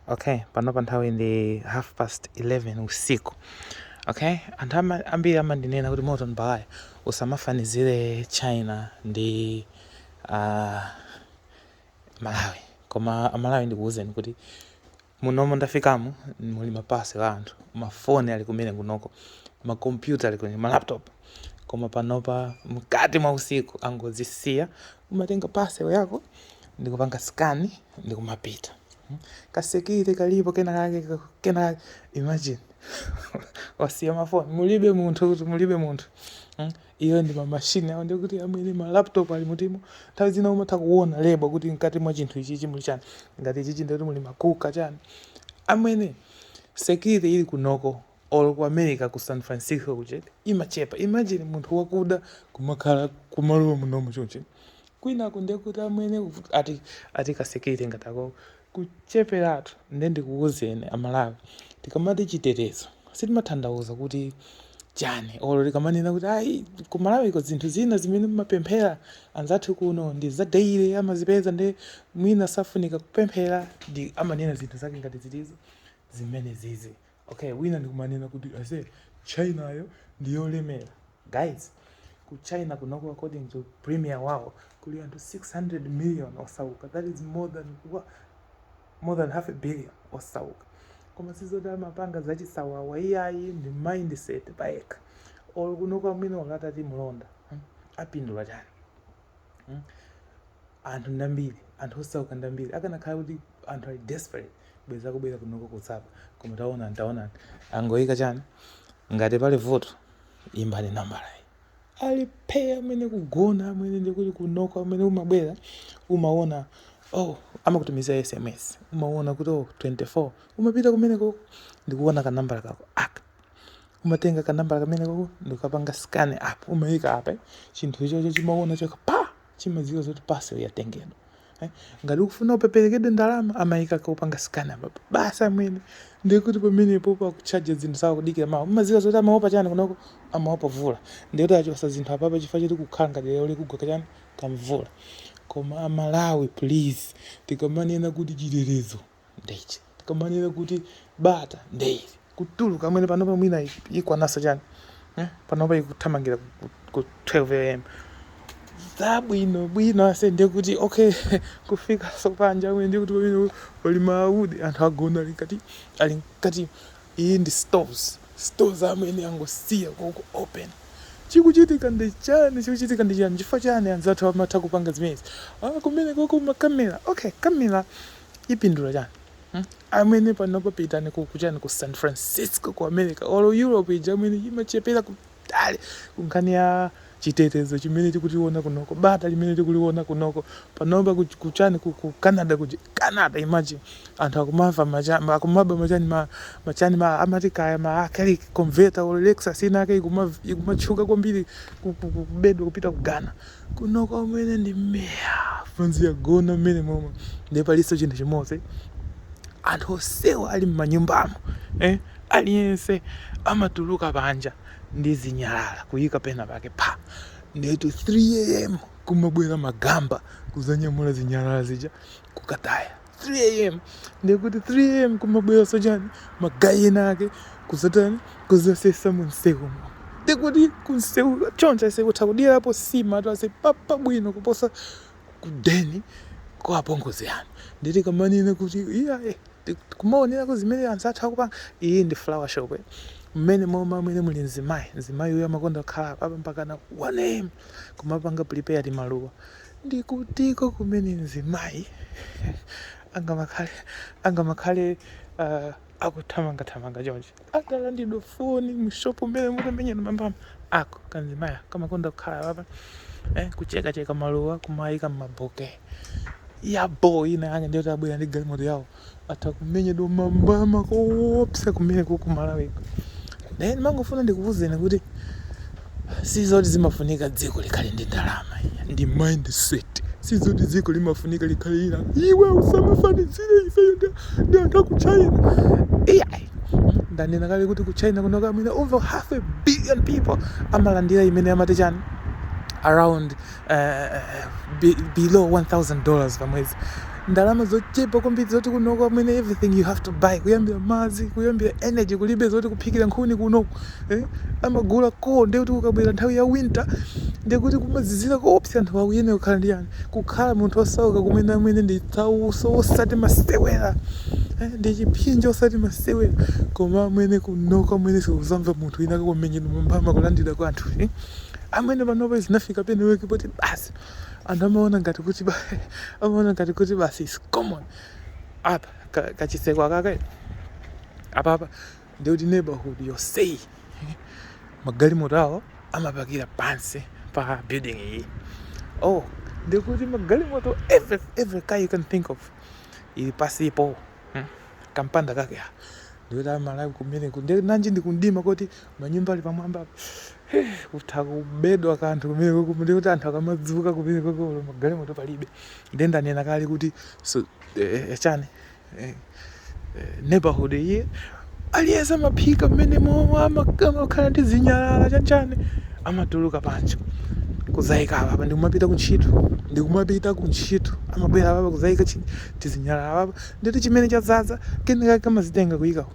okay panopa nthawi ndi half past 11 usiku okay anthu ama- ambiri amandinena kuti morton balaya usamafanizire china ndi uh, malawi koma amalawi ndikuwuzeni kuti munomo ndafikamu muli mapasel a anthu mafoni ali kumene kunoko makompyuta ali kumene malaptop koma panopa mkati mwa usiku angozisiya umatenga pasel yako ndikupanga skani ndikumapita hmm? kasekire kalipo kenakake kenakake imagine wasiya mafoni mulibe munthu kuti mulibe munthu hmm? iyo ndi mamashini awo ndikuti amwene malaptop ali mutimo nthawi zina umatha kuona lebo kuti mkati mwa chinthu ichichi muli chani ngati ichichi ndikuti muli makuka chani amwene sekire ili kunoko or ku America ku San Francisco kuja imachepa imagine munthu wakuda kumakhala kumalowa munomu chonchi kwinaku ndiye kuti amwene kuvuta- ati ati kasekire ngati ako kucheperatu nde ndikuwuzeni amalawi tikamati chitetezo timatanthauza kuti chani olo tikamanena kuti ayi kumalawiko zinthu zina zimene mumapemphera anzathu kuno ndi za daily amazipeza nde mwina safunika kupemphera ndi amanena zinthu zake ngati zitizo zimene zizi Ok wina ndikumanena kuti ase China yo ndi yolemera guys ku China kunoko according to premier wawo kuli anthu 600 million osauka that is more than wa- more than half a billion osauka koma sizoti amapanga zachisawawa iyayi ndi mindset payekha or kunoko amwene atati mlonda hmm, apindula chani mm? anthu ndambiri anthu osauka ndambiri akanakhala kuti anthu ali desperate bweza kubwera kunoko kusapa koma taonani taonani angoyika chani ngati pali vuto imbani nambalayi ali phe amwene kugona amwene ndikuti kunoko amwene umabwera umaona oh amakutumizira sms umaona kuti oh 24 umapita kumeneko ndikuona kanambala kako aka umatenga kanambala kamene kako ndikukapanga scan apa umayika apa chinthu ichocho chimaona choka pa chimadziwa zoti parcel yatengedwa eh? ngati ukufuna upeperekedwe ndalama amayika kaupanga scan apa basi amwene ndikuti pamenepo pakuchaja zinthu zawo kudikira mawa umadziwa zoti amaopa chani kunoko amaopa mvula ndikuti achosa zinthu apapa chifukwa choti kukhala ngati lero likugwa kachani kamvula koma amalawi please tikamanena kuti chitetezo ndeichi tikamanena kuti bata ndeili kutuluka amwene panopa mwina ikwananso chani eh? panopa ikuthamangira ku 12 am zabwino bwino ase ndiye kuti okay kufika so panja amwene ndiye kuti pamene pali maawudi anthu agona ali nkati ali nkati iyi ndi stores stores amwene angosiya koko open chikuchitika ndi chani chikuchitika ndi chani chifukwa chani anzathu amatha kupanga zimenezi ah kumene koko makamera okay kamera ipindula chani hmm? amwene panopa pitani ku kuchani ku san francisco ku america or europe ija amwene imachepera kutali kunkhani ya chitetezo chimene tikutiona kunoko bata limene tikuliona kunoko panopa ku- kuchani ku, ku canada kuja canada imagine anthu akumava macha- ma- akumaba machani ma, machani ma amati kaya ma acrylic converter or lexus inake ikuma- ikumatchuka kwambiri ku- ku- ku- kubedwa kupita ku ghana Kunoko amwene ndi mea bronzi yagona mmene momwe ndiye palinso chinthu chimodzi anthu onsewa ali m'manyumbamo eh, aliyense amatuluka panja ndi zinyalala kuyika pena pake pha ndetu 3am kumabwera magamba kuzanyamula zinyalala zija kukataya. 3am ndekuti 3am kumabweraso chani magayi ena ake kuzatani kuzasesa munseumo ndekuti kunseu choncho ase kutha kudyerapo sima to ase apa pabwino kuposa kudeni kwa apongozi anu nde tikamanena kuti iya eh, ti- kumaonerako zimene anzathu akupanga iyi ndi flower shop eh. mmenemo amwene muli mzimayi mzimayi uyo amakonda kukhala apa mpakana 1am kumapanga prepare timaluwa Ndi kutiko kumene mzimayi angamakhale, angamakhale, uh, akuthamanga thamanga chonchi, atalandidwa foni mu shopu mmenemu atamenyedwa mambama? Ako kanzimayi kamakonda kukhala papa, eh, kucheka cheka maluwa, kumayika mmaboke. Ya boo ina yake ndiye kuti abwera ndi galimoto yawo. atha kumenyedwa mambama koopsa kumeneku ku Malawiko. Ndiye ndimangofuna ndikuwuzeni kuti sizoti zimafunika dziko likhale ndi ndalama ndi mindset. Sizoti dziko limafunika likhale ila iwe usamafanizire ifeyo ndi ndi anthu a ku China. Iyayi. Mm, Ndanena kale kuti ku China kunoko amwene over half a billion people amalandira imene amati chani around uh, below 1000 dollars pa mwezi ndalama zochepa kwambiri zoti kunoko amwene everything you have to buy kuyambira madzi kuyambira energy kulibe zoti kuphikira nkhuni kunoko eh? amagulako ndi kuti ukabwera nthawi ya winter ndikuti kumazizira koopsa anthu akuyenera kukhala ndi yani kukhala munthu osauka kumene amwene ndi tsauso osati masewera eh? ndi chiphinjo osati masewera koma amwene kunoko amwene simuzamva munthu wina akumenyedwa mambama kulandira kwa anthu eh? amwene panopa zinafika peneweki poti basi anthu amaona ngati kuti ba- amaona ngati kuti basi is common apa ka- kachitseko kake apapa ndikuti neighborhood yonseyi magalimoto awo amapakira pansi pa building iyi oh ndikuti magalimoto every, every car you can think of ili pasipo hmm? kampanda kake ndikuti amalawi kumeneku ndi nanji ndi kumdima koti manyumba ali pamwamba kutha kubedwa kanthu kumeneko kumene kuti anthu akamadzuka kumeneko koko magalimoto palibe nde ndanena kale kuti so, eh, eh chani eh, eh, neighborhood iyi aliyense amaphika mmene momwe amakhala ndi zinyalala chanchani amatuluka panja kuzaika apa ndikumapita kuntchito ndikumapita kuntchito amabwera apa kuzaika tizinyalala apa ndi chimene chadzadza kenaka amazitenga kuyika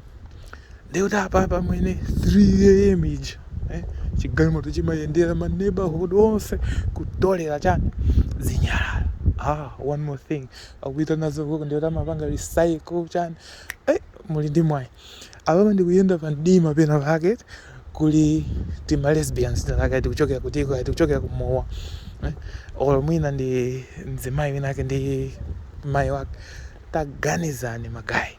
ndikuti apapa amwene 3 am ija eh, chigalimoto chimayendera ma neighborhood onse kutolera chani zinyalala ah one more thing akuita nazo kuno ndikuti amapanga recycle chani eh muli ndi mwayi apapa ndikuyenda pa mdima pena pake kuli tima lesbians tayaka tikuchokera kutiko tikuchokera kumowa eh? olo mwina ndi mzimayi winake ndi mayi winake taganizani magayi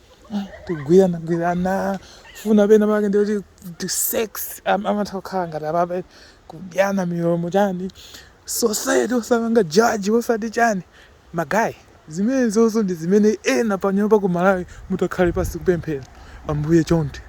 tigwiranagwirana funa pena pake ndikuti ti sex am- amatha kukhala ngati apapa kudyana milomo chani society osapanga jaji osati chani magayi zimenezozo ndi zimene ena panyumba ku malawi mutakhale pansi kupemphera ambuye chonde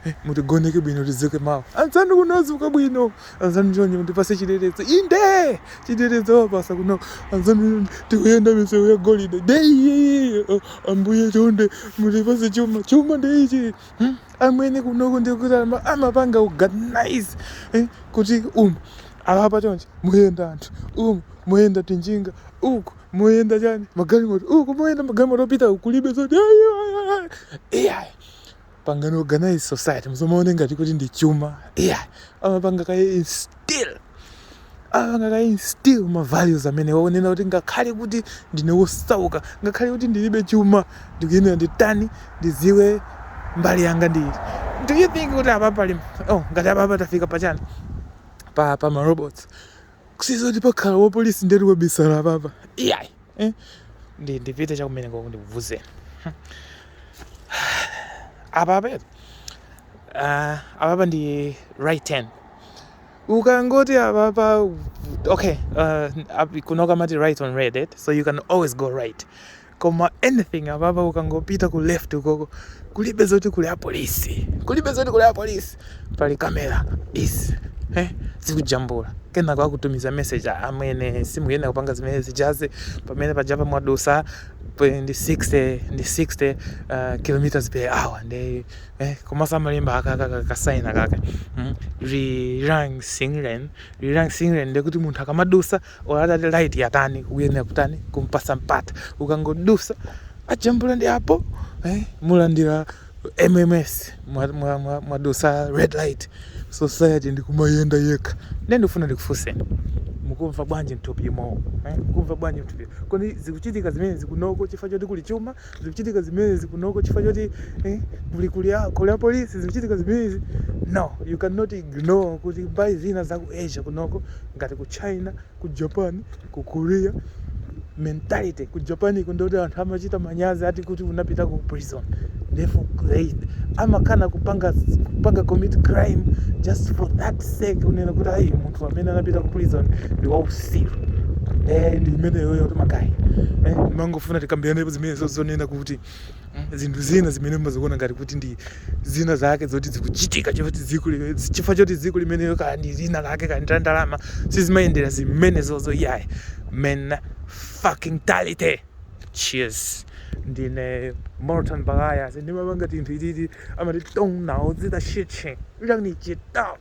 Eh, mutigoneke bwino tidzuke mawa anzanu kuno azuka bwino anzanu chonde mutipatse chitetezo inde chitetezo wapasa kuno anzanu tikuyenda misewu yagolide deiye oh, ambuye chonde mutipatse chuma chuma ndeichi hmm? amwene kunoko ndikuti ama- amapanga organize eh, kuti umu apapa chonchi muyenda anthu umu muyenda tinjinga uku muyenda chani magalimoto uku muyenda magalimoto opita kulibe zoti iyayi pangani organize society muzamaone ngati kuti ndi chuma yeah. amapanga kaye instill amapanga kaye instill ma values amene waonena kuti ngakhale kuti ndine wosauka ngakhale kuti ndilibe chuma ndikuyenera nditani ndidziwe mbali yanga ndili do you think kuti apa pali oh, ngati apapa tafika pachani pa pa ma robots sizoti pakhala wapolisi ndeti wabisala apapa iyayi eh? ndi ndipite chakumene koko ndikuuzeni apapa uh, ah, apapa ndi right hand ukangoti apapa okay uh, kunoko amati right on red it, eh? so you can always go right koma anything apapa ukangopita ku left ukoko kulibe zoti kuli apolisi kulibe zoti kuli apolisi pali kamera izi eh, zikujambula kenako akutumiza message amwene simukuyenera kupanga zimene zijazi pamene pajapa mwadutsa pe- ndi 60 ndi 60 uh, kilometers per hour ndi eh, komanso amalemba akakakasaina kaka mm? rirang singren rirang singren ndekuti munthu akamadutsa or atati light yatani ukuyenera kutani kumpasa mpata ukangodusa ajambula ndi apo eh, mulandira mms mwadusa red light. Society ndikumayenda yekha nde ndikufuna ndikufunseni mukumva bwanji mthupi imowo eh? mukumva bwanji mthupi kodi zikuchitika zimenezi kunoko chifukwa choti kuli chuma zikuchitika zimenezi kunoko chifukwa choti eh, kuli kuli a- kuli apolisi zikuchitika zimenezi no you cannot ignore kuti mbali zina za ku asia kunoko ngati ku china ku japan ku korea mentality ku japan ndoti anthu amachita manyazi ati kuti unapita ku prison therefore they amakana kupanga kupanga commit crime just for that sake unena kuti ayi munthu amene anapita ku prison ndi wausi siru. Eh, ndi imeneyo yoti magayi. Eh, ndimangofuna tikambirenepo zimenezo zonena kuti mm, zinthu zina zimene mumaziona ngati kuti ndi zina zake zoti zikuchitika choti dziko li- chifukwa choti dziko limeneyo kaya ndi zina lake kaya ndi la ndalama sizimayendera zimenezozo iyayi men fucking tality cheers ndine morton bagaya ndimapanga tinthu ititi amati tongnawo zita shitching uyangnichita